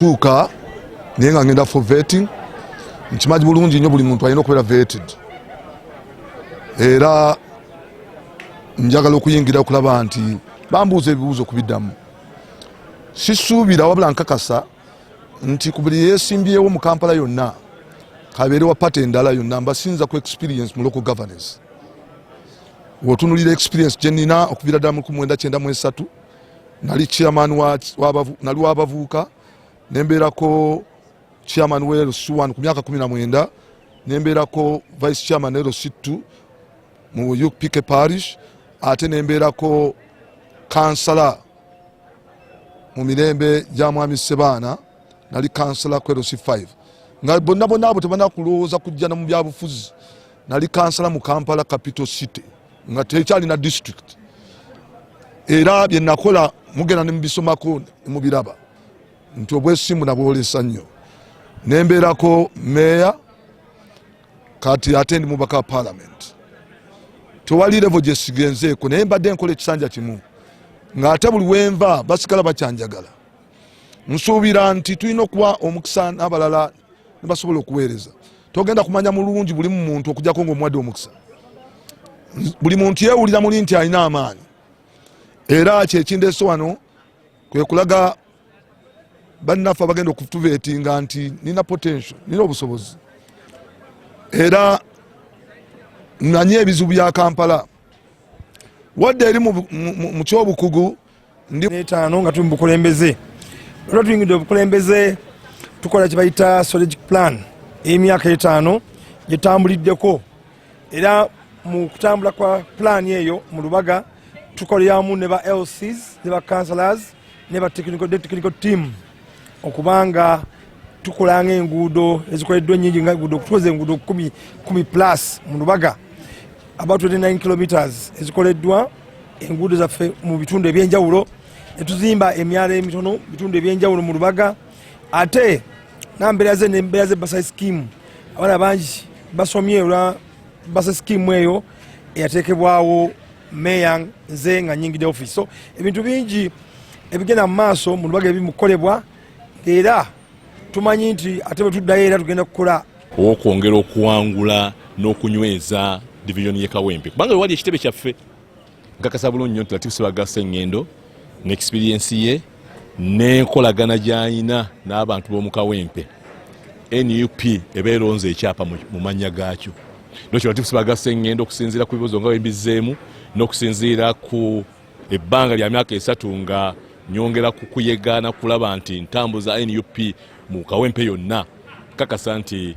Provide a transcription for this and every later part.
tuuka naye nga ngenda for vetting nkimanyi bulungi nnyo buli muntu alina okubeera vetted era njagala okuyingira okulaba nti bambuuza ebibuuzo kubiddamu sisuubira wabula nkakasa nti ku buli yesimbyewo mu kampala yonna kabeere wa pate endala yonna mbasinza ku experience mu local governance wotunulira experience gyenina okuviira ddala mu 1993 nali chairman nali wabavuuka nembeerako chairman wa lc one ku myaka kumi na mwenda nembeerako vice chairman lc two mu upk parish ate nembeerako kansala mu mirembe gya mwami sebaana nali kansala ku lc five nga bonna bonna abo tebanakulowooza kujjana mu byabufuzi nali kansala mu kampala capital city nga tekyalina district era byenakola mugenda nemubisomako mubiraba nti obwesimbu nabwolesa nnyo nembeerako meeya kati ate ndi mubaka wa palamenti tewali revo gyesigenzeeko naye mbadde nkola ekisanja kimu ng'ate buli wenva basigala bakyanjagala nsuubira nti tulina okuwa omukisa n'abalala nebasobola okuweereza togenda kumanya mulungi buli mumuntu okujako nga omuwadde omukisa buli muntu yewulira muli nti alina amaanyi era kyekindeso wano kwekulaga bannaffe abagenda okutuvetinga nti nina potential nina obusobozi era nanye ebizibu bya kampala wadde eri mu kyobukugu netaano nga tuli mu bukulembeze olwa tuyingidde obukulembeze tukola kyebayita strategic plan eyemyaka etaano gyetambuliddeko era mu kutambula kwa pulaani eyo mu lubaga tukoleramu ne ba lcs ne ba councilors ne ba technical team okubanga tukola nga enguudo ezikoleddwa enyingi nga enguudo okutuweza enguudo kumi kumi plus mu lubaga about 29 kilometers ezikoleddwa enguudo zaffe mu bitundu ebyenjawulo netuzimba emyalo emitono bitundu ebyenjawulo mu lubaga ate nambeera ze nembeera ze basa scheme abaana bangi basomye olwa basa scheme eyo eyateekebwawo meya nze nga nyingide office so ebintu bingi ebigenda mu maaso mu lubaga ebimukolebwa era tumanyi nti ate bwe tuddayo era tugenda kukola okwongera okuwangula n'okunyweza divizoni ye kawempe kubanga wewali ekitebe kyaffe nkakasa bulungi nyo nti latifusibagaseŋŋendo ne experiensi ye n'enkolagana gy'alina n'abantu b'omu kawempe nup eba eronze ekyapa mu mannya gaakyo nokyo latifu sibagasse ngenda okusinziira ku bibuzo nga wembizzeemu n'okusinziira ku ebbanga lya myaka esatu nga nyongera ku kuyegaana kulaba nti ntambuza nup mu kawempe yonna kakasa nti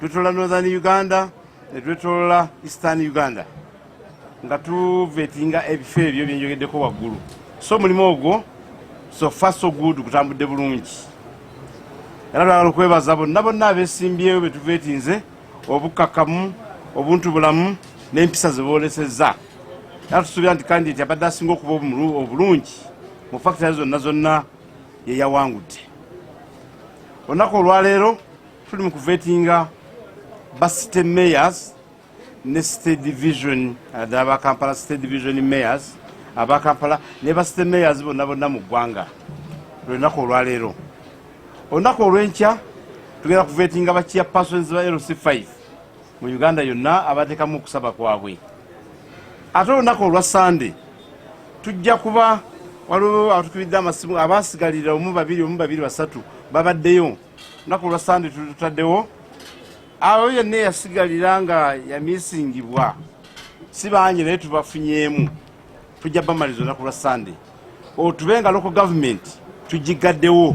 Twetolola Northern Uganda ne twetolola Eastern Uganda nga tuvetinga ebifo ebyo byenjogeddeko waggulu so omulimu ogwo so far so good gutambudde bulungi era lwagala okwebaza bonna bonna abesimbyewo betuvetinze obukkakkamu obuntu bulamu n'empisa ze boolesezza era tusuubira nti kandidati abadde asinga okuba obulungi mu fakitale zonna zonna yeyawangudde olunaku olwaleero tuli mu kuvetinga ba city mayors ne city division aba uh, kampala city division mayors aba kampala ne ba city mayors bonna bonna mu ggwanga lwenaku olwaleero olunaku olwenkya tugenda kuvetinga ba chair persons ba lc 5 mu uganda yonna abatekamu okusaba kwabwe ate olunaku olwa sande tujja kuba waliwo atukibidde amasimu abasigalira omu babiri omu babiri basatu babaddeyo lunaku olwa sande tulutaddewo awo yenna eyasigalira nga yamisingibwa si bangi naye tubafunyeemu tujja bamaliza olunaku lwa sande otube nga loko gavumenti tugigaddewo